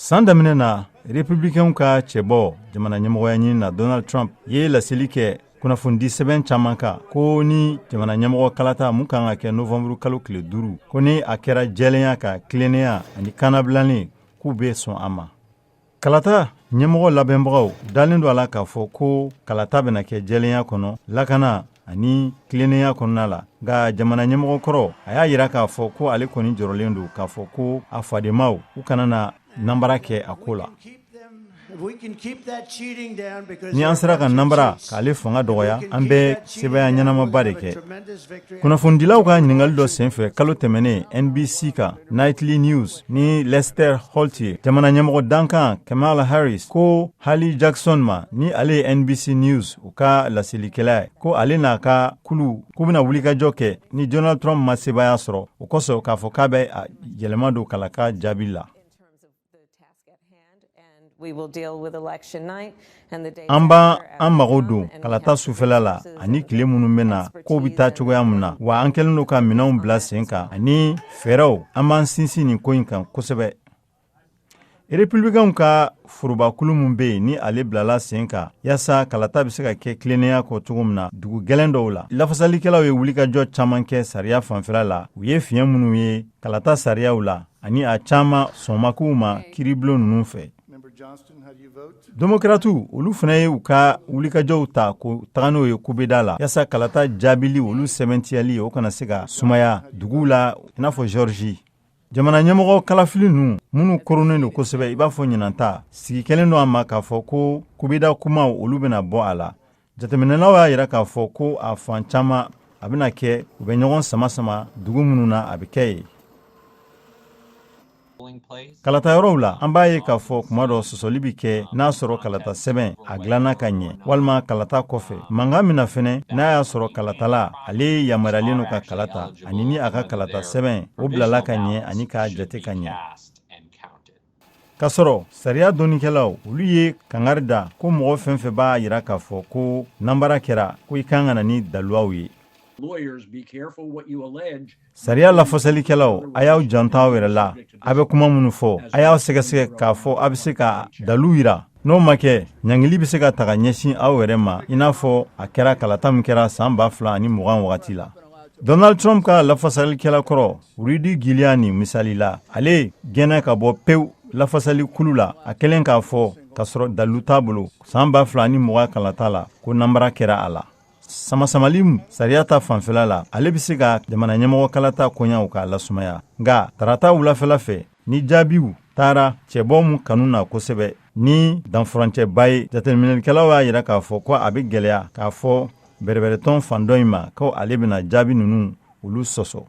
san daminɛ na republikɛnw ka cɛbɔ jamana ɲɛmɔgɔya ɲini na donald trump ye laseli kɛ kunnafonidi sɛbɛn caman kan ko ni jamana ɲɛmɔgɔ kalata mun kan ka kɛ novanburu kalo tile duuru ko ni a kɛra jɛlenya ka tilennenya ani kannabilannen k'u bɛ sɔn a ma Kalata ɲɛmɔgɔ labɛnbagaw dalen don a la k'a fɔ ko kalata bɛna kɛ jɛlenya kɔnɔ lakana ani tilennenya kɔnɔna la nka jamana ɲɛmɔgɔ kɔrɔ a y'a jira k'a fɔ ko ale kɔni jɔrɔlen don k'a fɔ ko a fadenmaw u kana na nanbara kɛ a ko la ni an sera ka nanbara k'ale fanga dɔgɔya an bɛ sebaaya ɲɛnamaba de kɛ kunnafonidilaw ka ɲininkali dɔ senfɛ kalo tɛmɛnen NBC ka Nightly News ni Lester Holt ye jamana ɲɛmɔgɔ dankan Kamala Harris ko Hallie Jackson ma ni ale ye NBC News u ka laselikɛla ye ko ale n'a ka kulu k'u bɛna wulikajɔ kɛ ni Donald Trump ma sebaaya sɔrɔ o kosɔn k'a fɔ k'a bɛ yɛlɛma don kalata jaabi la. An b'an mago don kalata sufɛla la ani tile minnu bɛ na ko bɛ taa cogoya min na wa an kɛlen don ka minɛnw bila sen kan ani fɛɛrɛw an b'an sinsin nin ko in kan kosɛbɛ republikɛnw ka forobakulu min bɛ yen ni ale bilala sen kan yaasa kalata bɛ se ka kɛ tilennenya kɔ cogo min na dugu gɛlɛn dɔw la lafasalikɛlaw ye wulikajɔ caman kɛ sariya fanfɛla la u ye fiɲɛ minnu ye kalata sariyaw la ani a caman sɔnmakow ma kiiribulon ninnu fɛ demokratiw olu fana ye u ka wulikajɔw ta ko taga n'o ye kubeda la yaasa kalata jaabili olu sɛbɛntiyali o kana se ka sumaya duguw la i n'a fɔ Georgie jamana ɲɛmɔgɔ kalafili ninnu minnu koronnen don kosɛbɛ i b'a fɔ ɲinan ta sigi kɛlen don a ma k'a fɔ ko kubeda kumaw olu bɛna bɔ a la jateminɛlaw y'a jira k'a fɔ ko a fan caman a bɛna kɛ u bɛ ɲɔgɔn sama sama dugu minnu na a bɛ kɛ yen kalata yɔrɔw la an b'a ye k'a fɔ kuma dɔ sɔsɔli bɛ kɛ n'a sɔrɔ kalata sɛbɛn a dilanna ka ɲɛ walima kalata kɔfɛ mankan min na fɛnɛ n'a y'a sɔrɔ kalatala ale yamaruyalen don ka kalata ani ni a ka kalata sɛbɛn o bilala ka ɲɛ ani k'a jate ka ɲɛ K'a sɔrɔ sariya dɔnnikɛlaw olu ye kangari da ko mɔgɔ fɛn fɛn b'a jira k'a fɔ ko nanbara kɛra ko i kan ka na ni daluw ye sariya lafasalikɛlaw a y'aw janto aw yɛrɛ la a bɛ kuma minnu fɔ a y'aw sɛgɛsɛgɛ k'a fɔ a bɛ se ka dalu jira n'o ma kɛ ɲangili bɛ se ka taga ɲɛsin aw yɛrɛ ma i n'a fɔ a kɛra kalata min kɛra san ba fila ni mugan wagati la Donald Trump ka lafasalikɛla kɔrɔ Rudy Giuliani misali la ale gɛnna ka bɔ pewu lafasali kulu la a kɛlen k'a fɔ k'a sɔrɔ dalu t'a bolo san ba fila ni mugan kalata la ko nanbara kɛra a la samasamali sariya ta fanfɛla la ale bɛ se ka jamana ɲɛmɔgɔ kalata koɲaw k'a lasumaya nka tarata wulafɛla fɛ ni jaabiw taara cɛbɔ min kanu na kosɛbɛ ni danfurancɛba ye jateminɛlikɛlaw y'a jira k'a fɔ ko a bɛ gɛlɛya k'a fɔ bɛrɛbɛrɛtɔn fan dɔ in ma ko ale bɛna jaabi ninnu olu sɔsɔ